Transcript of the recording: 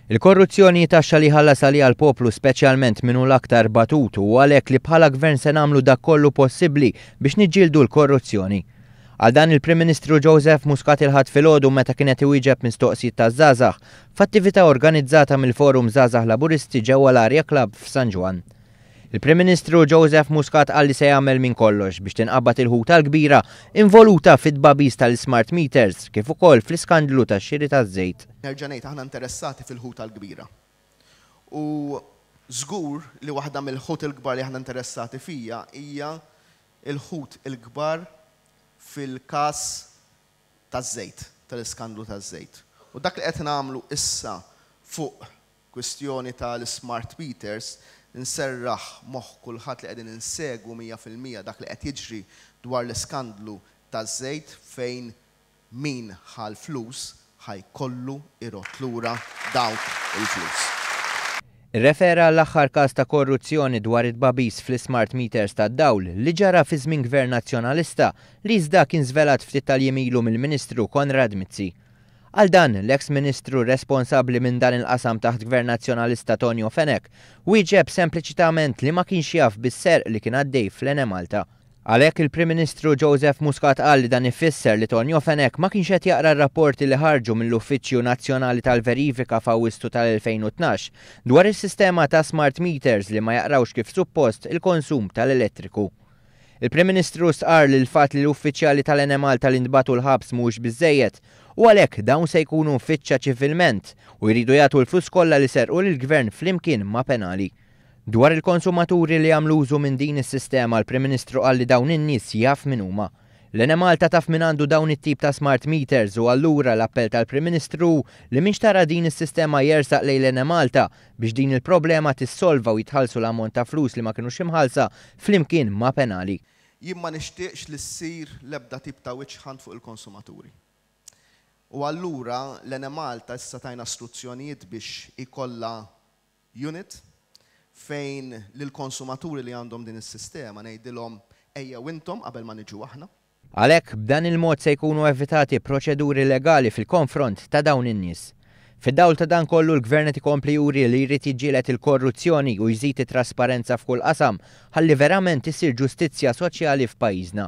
Il-korruzzjoni hi taxxa li jħallas għaliha l-poplu speċjalment min hu l-aktar batut u għalhekk li bħala Gvern se nagħmlu dak kollu possibbli biex niġġieldu l-korruzzjoni. Qal dan il-Prim Ministru Joseph Muscat il-Ħadd filgħodu meta kien qed iwieġeb mistoqsijiet taż-żgħażagħ f'attività organizzata mill-Forum Żgħażagħ Laburisti ġewwa l-Aria Club f'San Ġwann. Il-Prim Ministru Joseph Muscat qal li se jagħmel minn kollox biex tinqabad il-ħuta l-kbira involuta fit-tbagħbis tal-ismart meters kif ukoll fl-iskandlu tax-xiri taż-żejt. Nerġa' ngħid aħna interessati fil-ħuta l-kbira. U żgur li waħda mill-ħut il-kbar li aħna interessati fija hija l-ħut il-kbar fil-każ taż-żejt, tal-iskandlu taż-żejt. U dak li qed nagħmlu issa fuq Kwistjoni ta' l-ismart meters, inserraħ moħħ kulħadd li qegħdin insegwu mija fil-mija dak li qed jiġri dwar l-iskandlu taż-żejt fejn min ħa l-flus ħa jkollu jrodd lura dawk il-flus. Irrefera għall-aħħar każ ta' korruzzjoni dwar it-tbagħbis fl-ismart meters tad-dawl li ġara fi żmien Gvern Nazzjonalista li iżda kien żvelat ftit tal-jiem ilu mill-Ministru Konrad Mizzi. Għal dan, l-eks Ministru responsabbli minn dan il-qasam taħt Gvern Nazzjonalista Tonio Fenech wieġeb sempliċitament li ma kienx jaf bis-serq li kien għaddej fl-Enemalta. Għalhekk il-Prim Ministru Joseph Muscat qal li dan ifisser li Tonio Fenech ma kienx qed jaqra r-rapporti li ħarġu mill-Uffiċċju Nazzjonali tal-Verifika f'Awwisstu tal-2012 dwar is-sistema ta' smart meters li ma jaqrawx kif suppost il-konsum tal-elettriku. Il-Prim Ministru stqarr li l-fatt li l-uffiċjali tal-Ene Malta li ntbagħtu l-ħabs mhuwiex biżżejjed u għalhekk dawn se jkunu mfittxa ċivilment u jridu jagħtu l-flus kollha li serqu lill-Gvern flimkien ma' penali. Dwar il-konsumaturi li jagħmlu użu minn din is-sistema l-Prim Ministru qal li dawn in-nies jaf min huma. L-Ene Malta taf min għandu dawn it-tip ta' smart meters u allura l-appell tal-Prim Ministru hu li min xtara din is-sistema jersaq lejn l-Ene Malta biex din il-problema tissolva u jitħallsu l-ammont ta' flus li ma kinux imħallsa, flimkien ma' penali. Jien ma nixtieqx li ssir l-ebda tip ta' witch hunt fuq il-konsumaturi. U allura l-Enemalta issa tajna struzzjonijiet biex ikollha unit fejn lill-konsumaturi li għandhom din is-sistema ngħidilhom ejjew intom qabel ma niġu aħna. Għalhekk, b'dan il-mod se jkunu evitati proċeduri legali fil-konfront ta' dawn in-nies. Fid-dawl ta' dan kollu, l-Gvern qed ikompli juri li jrid jiġġieled il-korruzzjoni u jżid it-trasparenza f'kull qasam ħalli verament issir ġustizzja soċjali f'pajjiżna.